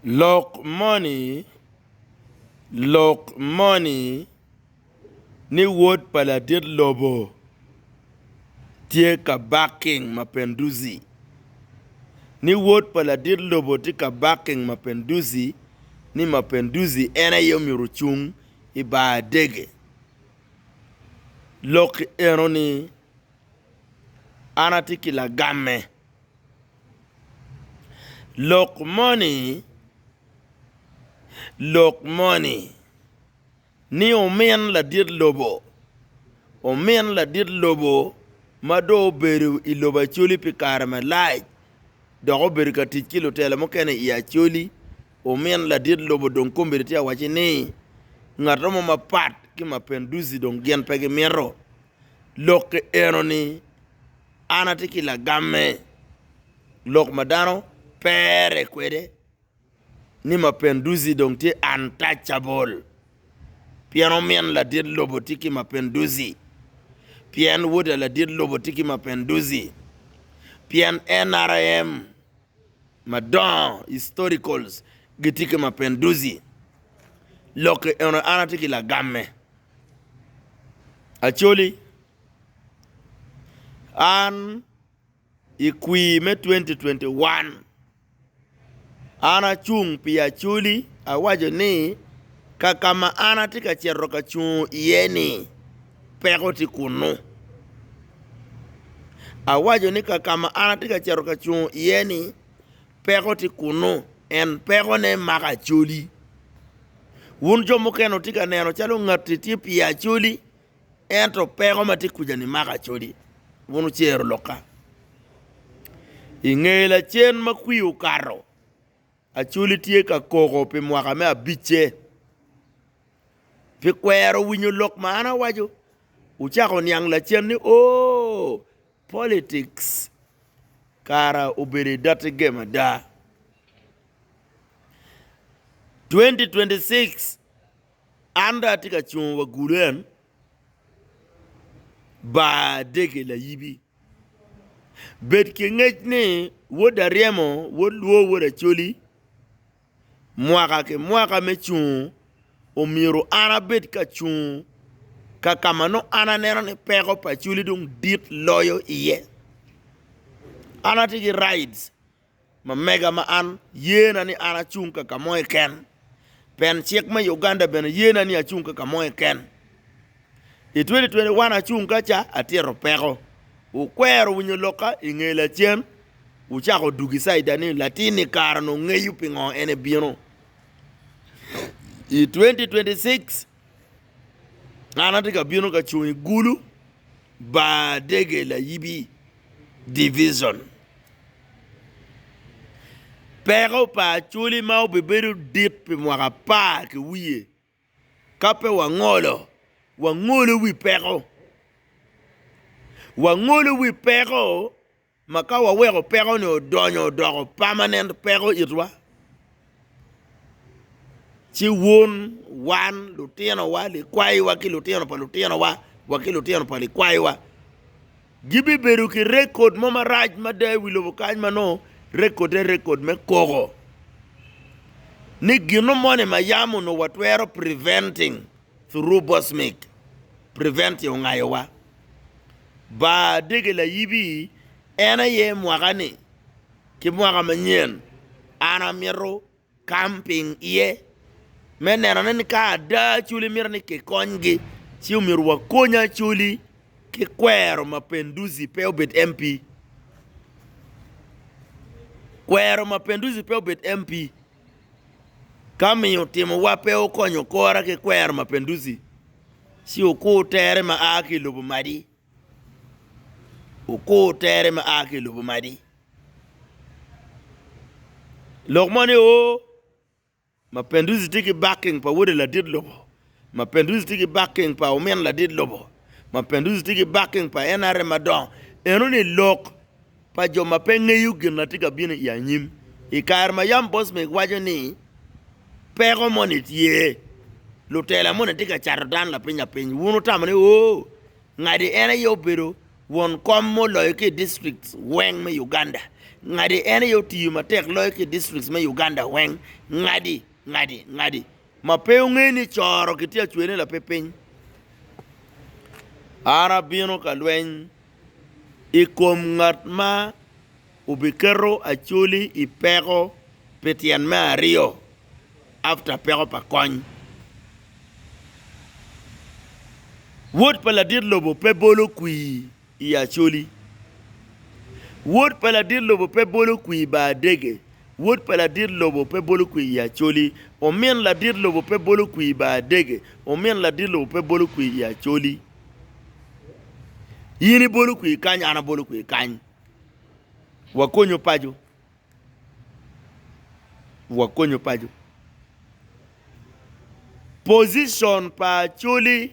Lok moni Lok moni ni wod pa ladit lobo tye ka barking mapinduzi Ni wod pa ladit lobo tye ka barking mapinduzi ni mapinduzi en aye omyero ocung i bar adege Lok enoni An atye ki lagamme. Lok moni lok moni ni omin ladit lobo omin ladit lobo ma dong obedo i lobo Acholi pi kare malac dok obedo ka tic ki lutela mukene i Acholi omin ladit lobo dong kombeddi tye ka wacci ni ngato mo mapat ki Mapenduzi dong gin pe gimito lok enoni. An atye ki lagamme, lok ma dano pere kwede ni Mapinduzi dong tye untouchable pien omin ladit lobo tye ki Mapinduzi, pien woda ladit lobo tye ki Mapinduzi, pien NRM. madongo, historicals, gitye ki Mapinduzi, lokke eno an atye ki lagamme, Acholi an i kwir me twenty twenty one an acung pi Acholi awaco ni kakama an atye ka cito ka cungo iye ni. peko tye kunnu. Awaco ni ka ma an atye ka cito ka cung iye ni peko tye kunnu en pekone mako Acholi. Wun jo mukene wutye ka neno calo ngati tye pye Acholi ento peko ma tye kwija-ni mako Acholi. Wun wucero lokka. I nge lacen ma kwio okato. Acholi tye ka koko pi mwaka me abicce pi kwero winyo lok ma an awaco. Wucako wuniang lacen ni, 'Ooh, politics kara obedo i dotti gem ada! 2026 an dong atye ka cungo wa gulen, ba dege layibi. Bed ki ngec ni wod aryemo wod lwo wod acoli mwaka ki mwaka me cungo omyero an abed ka cung kakama nongo an aneno ni peko pa acoli dong dit loyo iye an atye ki rights Ma mega ma an yena ni an acung ka ka mo keken, pen cik me Uganda bene yena ni acung ka ka mo keken. I 2021 acung ka ca atito peko, wukwero winyo lokka i nge lacen, wucako dugi caida ni latin ni kara ni ongeyo pingo en ebino. I 2026 An atye ka bino ka cung i Gulu, Badege Layibi Division. Peko pa Acholi ma obibedo dit pi mwaka apar ki wiye ka pe wangolo, wangolo wi peko, wangolo wi peko. Ma ka waweko peko-ni odonyo odoko pamanen peko itwa, ci wun, wan, lutinowa, likwayiwa ki lutino pa lutinowa wa ki lutino pa likwayiwa gibibedo ki rekod mo marac mada i wi lobo kany ma nongo rekodde rekod me koko ni gino moni ma yam onongo watwero preventing through bosmik, prevent-ti ongayowa. Bar dege layibi en aye mwaka ni ki mwaka manyen an amito camping iye me neno ne ni ka ada acholi mito ni kikony gi ci omyero wakony acholi ki kwero mapenduzi pe obed MP kwero mapenduzi pe obed MP. Ka miyo timowa pe okonyo kora ki kwero mapinduzi, ci wukur tere ma a ki i lobo madi. Wukur tere ma a ki i lobo madi. Lok mo ni, Oo, mapinduzi tye ki backing pa wode ladit lobo, Ma Penduzi tye ki backing pa omin ladit lobo. Ma Penduzi tye ki backing pa NRM madongo. Eno ni lok pa jo ma pe ngeyo gin ma tye ka bino i anyim. I kare ma Yam Bosmik waco ni peko moni tye, lutela moni tye ka cato dano lapiny lapiny, wun wutamo ni oo, ngadi en aye obedo won kom ma oloyo ki i districts weng me Uganda. Ngadi en aye otiyo matek loyo ki i districts me Uganda weng. Ngadi, ngadi, ngadi. Ma pe wungeyo ni coro kitye ka cwene lape piny? An abino ka lweny i kom ngat ma obiketo Acholi i peko pi tyen me aryo after peko pa kony. Wod pa ladit lobo pe bolo kwii. I Acholi, wod pa ladit lobo pe bolo kwir Baadege, wod pa ladit lobo pe bolo kwir i Acholi, omin ladit lobo pe bolo kwir Baadege, omin ladit lobo pe bolo kwir i Acholi. In ibolo kwir kany, an abolo kwir kany. Wakonyo paco. Wakonyo paco. Position pa Acholi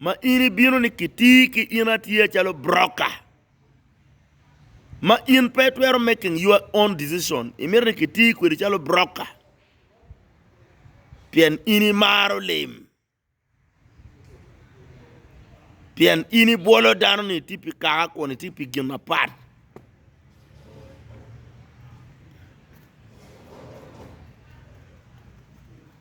ma in ibino ni kitii ki in atiya calo broker ma in pe itwero making your own decision imito ni kitii kwedi calo broker pien in imaro lim pien in ibwolo dano ni itye pi kaka kun itye pi gin mapat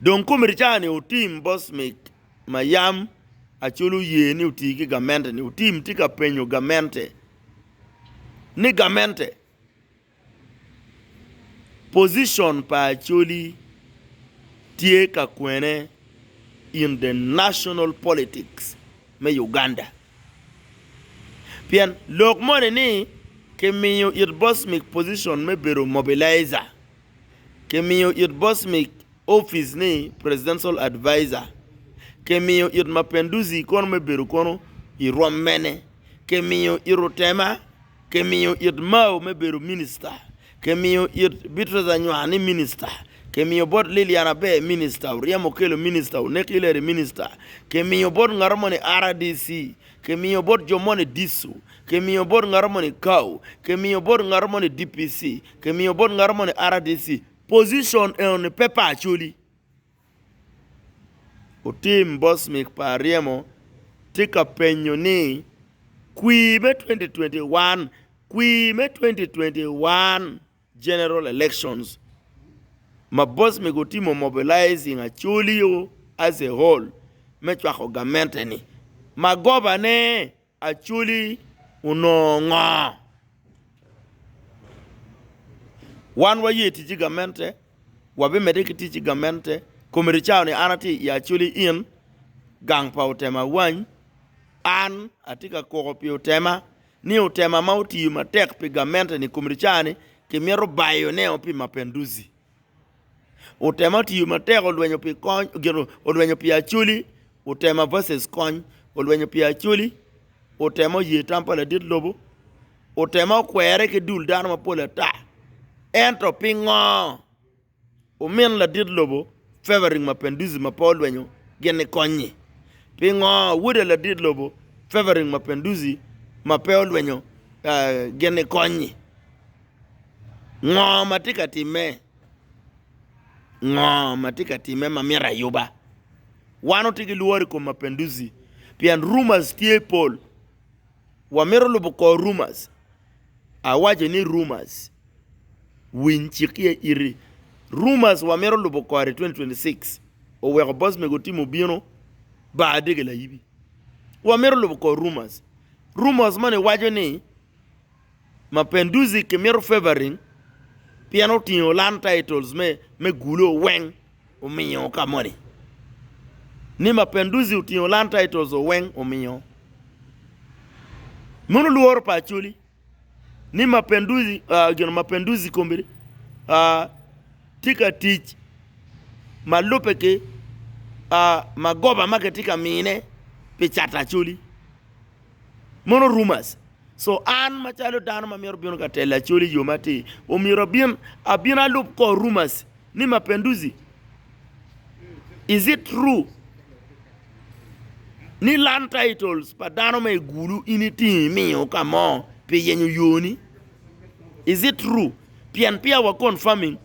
Dong komercani otim bot mic ma yam Acholi oye ni oti ki gamente-ni, otim tye ka penyo gamente ni, Gamente, position pa Acholi tye ka kwene in the national politics me Uganda? Pien lok moni ni kimiyo it bocmic position me bedo mobilizer, kimiyo it bocmic office ni presidential adviser, kimiyo it Mapinduzi kono me bedo kono i rwom mene, kimiyo it Rutema, kimiyo it Mao me bedo minister, Kimiyo it Beatrice Anywar ni Minista, kimiyo bot Lillian Aber Minista, Oryem Okello Minista, Onek Hillary Minista, kimiyo bot ngato moni RDC, kimiyo bot jo moni Disu, kimiyo bot ngato moni Kau, kimiyo bot ngato moni DPC, kimiyo bot ngato moni RDC, position eno ni pe pa Acholi. Otim Bosmic pa Aryemo tye ka penyo ni, Kwir me 2021 Kwir me 2021 General Elections ma Bosmic otimo mobilizing Acholi-o as a whole me cwako gamente-ni ma gobane. Acholi onongo ngo? Wan waye tic ki gamente, wabimedde ki tic ki gamente. Komiti cawa ni an atye i Acholi Inn, gang pa Otema Awany. An atye ka koko pi Otema ni Otema ma otiyo matek pi gamente-ni, komiti cawa ni kimito bayoneo pi Mapenduzi. Otema otiyo matek olwenyo pi kony gin olwenyo pi Acholi Otema versus Kony olwenyo pi Acholi Otema oye tam pa ladit lobo Otema okwere ki dul dano mapol ata Ento pingo omin ladit lobo Favoring Mapinduzi ma pe olwenyo gin nikony-nyi? Pingo woda ladit lobo Favoring Mapinduzi ma pe olwenyo gin nikony-nyi? Ngo ma tye ka timme? Ngo ma tye ka timme ma myero ayuba? Wan watye ki lworo i kom mapenduzi pien rumors tye pol. Wamito lubo kor rumors. Awaco ni rumors, winy cik iye iti. Rumors wamito lubo kore i 2026. Oweko boss mego Tim obino baa dege layibi. Wamito lubo kor rumors. Rumors moni waco ni. Mapenduzzi kimito favoring pien otingo land titles me gulo oweng omiyo ka moni ni Mapenduzzi otingo land titles oweng omiyo meno lworo pa Acholi ni Mapenduzzi gin Mapenduzzi kombeddi tye ka tic ma lubbe ki magoba ma kitye ka mine pi cato Acholi. Mono Rumors co an macalo dano ma myero bino ka telo Acholi i yo matir, omyero abin abin alub kor Rumors ni Mapenduzi? Is it true ni Land Titles pa dano ma igulu in itingo imiyo ka mo pi yenyo yo ni? Is it true? Pien peya wa confirming,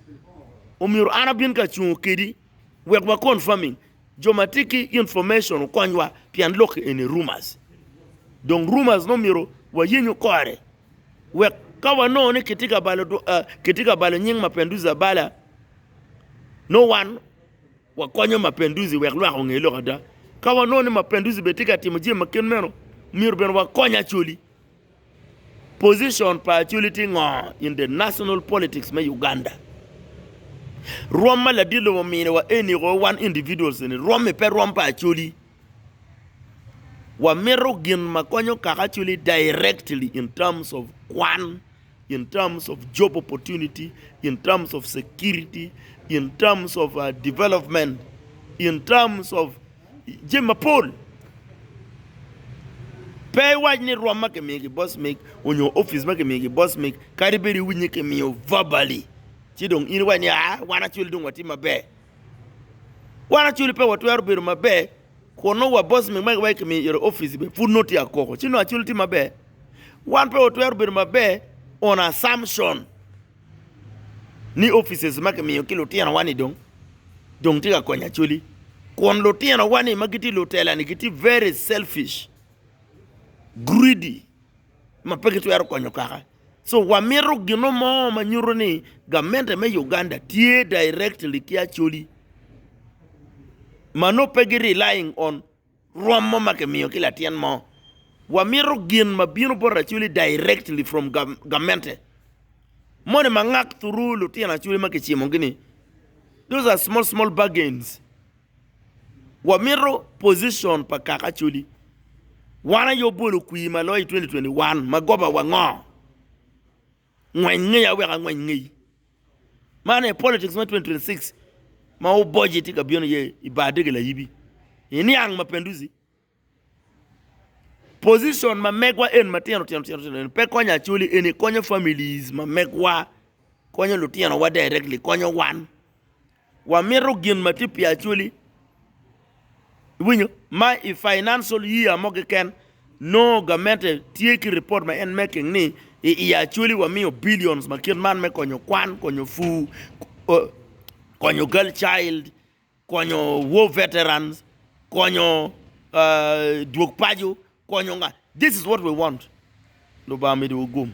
omyero an abin ka cungo kedi wek wa confirming. Jo ma tye ki information okonywa pien lok eni rumors. Dong rumors nongo myero wayenyo kore wek ka wanongo ni kitye ka balo kitye ka balo nying Mapenduzi abala nongo wan wakonyo Mapenduzi wek lwak onge lok ada. Ka wanongo ni Mapenduzi bene tye ka timo jami ma kit meno myero bene wakony Acholi. Position pa Acholi tye ngo in the national politics me Uganda? Rwom ma ladit lobo omini wa eni ko wan individuals eni rwom i pe rwom pa Acholi. Wa mito gin ma konyo kaka Acholi directly in terms of kwan, in terms of job opportunity, in terms of security, in terms of development, in terms of jami mapol. Pe iwac ni rwom ma kimiyo ki boss mig onyo office ma kimiyo ki boss mig kadi bed iwinyo ni kimiyo verbally ci dong in iwac ni aa wan actually dong watye maber. Wan actually pe watwero bedo maber kun nongo wa boss mig ma iwaco ni kimiyo iro office bene pud nongo tye akoko ci nongo actually tye maber. Wan pe watwero bedo maber on assumption. ni offices ma kimiyo ki lutinowa ni dong dong tye ka konyo Acholi kun lutinowa ni ma gitye i lutela-ni gitye very selfish, greedy ma pe gitwero konyo kaka so wamito gino mo ma nyuto ni gamente me Uganda tye directly ki Acholi ma nongo pe gi relying on. Rwom mo ma kimiyo ki latin mo. Wamito gin ma bino bot lacwili directly from gamente. Moni ma ngak through lutino acwili ma kicimo gi ni. Those are small small bargains. Wamito position pa kaka acwili. Wan aye obolo kwi ma loyo i 2021 ma goba wa ngo? Ngweny ngeya wek angweny ngeyi. Man aye politics me 2026 ma oboji tye ka bino iye i bar dege layibi. I niang mapenduzi, position ma megwa en matino tino tino tino eni pe konyo Acholi eni konyo families ma megwa, konyo lutinowa directly, konyo wan. Wamito gin ma tye pi actually, iwinyo, ma i financial year mo keken nongo gamente tye ki report ma en making ni i i actually wamiyo billions ma kit man me konyo kwan, konyo fur, konyo girl child, konyo war veterans, konyo dwog paco, konyo nga, this is what we want, Lubanga omidiwu gum.